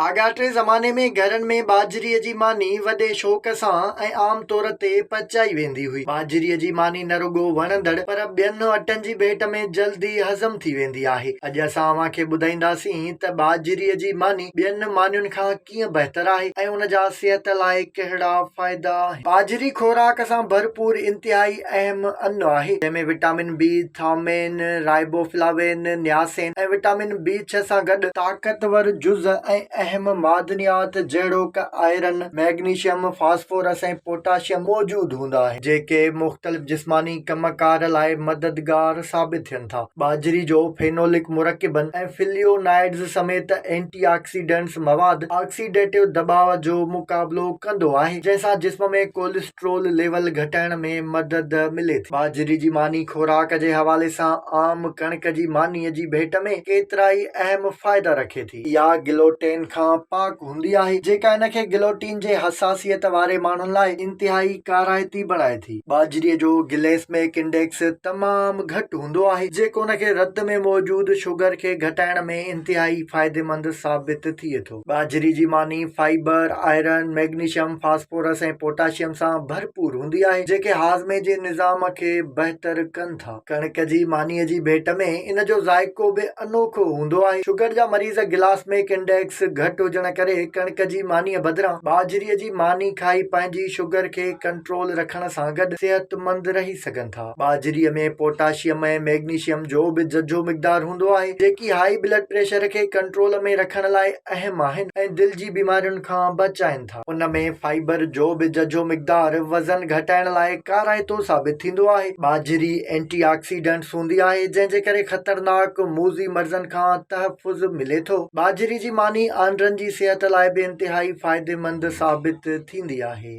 آڳاٽي زماني ۾ گهرن ۾ ٻاجهري جي ماني وڏي شوق سان ۽ عام طور تي پچائي ويندي هئي. ٻاجهري جي ماني نه رڳو وڻندڙ پر ٻين اٽن جي ڀيٽ ۾ جلد ئي هضم ٿي ويندي آهي. اڄ اسان اوهان کي ٻڌائينداسين ته ٻاجهري جي ماني ٻين مانين کان ڪيئن بهتر آهي ۽ ان جا صحت لاء ڪهڙا فائدا آهن. ٻاجهري خوراڪ سان ڀرپور انتهائي اهم انو آهي، جنهن ۾ وٽامن بي، ٿائومين، رائبو فلاوين، نياسين ۽ وٽامن بي ڇهه سان گڏ، طاقتور جز ۽ اهم معدنيات جهڙوڪ آئرن، مئگنيشيم، فاسفورس ۽ پوٽاشيم موجود هوندا آهن، جيڪي مختلف جسماني ڪم ڪار لاء مددگار ثابت ٿين ٿا. ٻاجهري جو فينولڪ مرڪبن ۽ فليونائڊز سميت اينٽي آڪسيڊنٽس مواد آڪسيڊيٽو دٻاء جو مقابلو ڪندو آهي، جنهن سان جسم ۾ ڪوليسٽرول، ڪوليسٽرول ليول گهٽائڻ ۾ مدد ملي ٿي. ٻاجهري جي ماني خوراڪ جي حوالي سان عام ڪڻڪ جي مانيء جي ڀيٽ ۾ ڪيترائي اهم فائدا رکي ٿي. اها گلوٽين کان پاڪ هوندي آهي، جيڪا ان کي گلوٽين جي حساسيت واري ماڻهن لاء انتهائي ڪارائتي بڻائي ٿي. ٻاجهري جو گليسمڪ انڊيڪس تمام گهٽ هوندو آهي، جيڪو ان کي رت ۾ موجود شگر کي گهٽائڻ ۾ انتهائي فائديمند ثابت ٿئي ٿو. ٻاجهري جي ماني fibre, iron, magnesium, phosphorus ۽ potassium سان ڀرپور هوندي آهي، جيڪي هاضمي جي نظام کي بهتر ڪن ٿا. ڪڻڪ جي مانيء جي ڀيٽ ۾ ان جو ذائقو به انوکو هوندو آهي. شگر جا مريض گلاسميڪ انڊيڪس گهٽ هجڻ ڪري ڪڻڪ جي مانيء بدران ٻاجهري جي ماني کائي پنهنجي شگر کي ڪنٽرول رکڻ سان گڏ صحتمند رهي سگهن ٿا. ٻاجهري ۾ پوٽاشيم ۽ مئگنيشيم جو به ججهو مقدار هوندو آهي، جيڪي هائي بلڊ پريشر کي ڪنٽرول ۾ رکڻ لاء اهم آهن ۽ دل جي بيمارين کان بچائين ٿا. ان ۾ فائبر جو به ججهو مقدار وزن گهٽائڻ لاء ڪارائتو ثابت ٿيندو آهي. ٻاجهري اينٽي آڪسيڊنٽس هوندي آهي، جنهن جي ڪري خطرناڪ موذي مرضن کان تحفظ ملي ٿو. ٻاجهري جي ماني آنڊرن جي صحت لاء به انتهائي فائديمند ثابت ٿيندي آهي.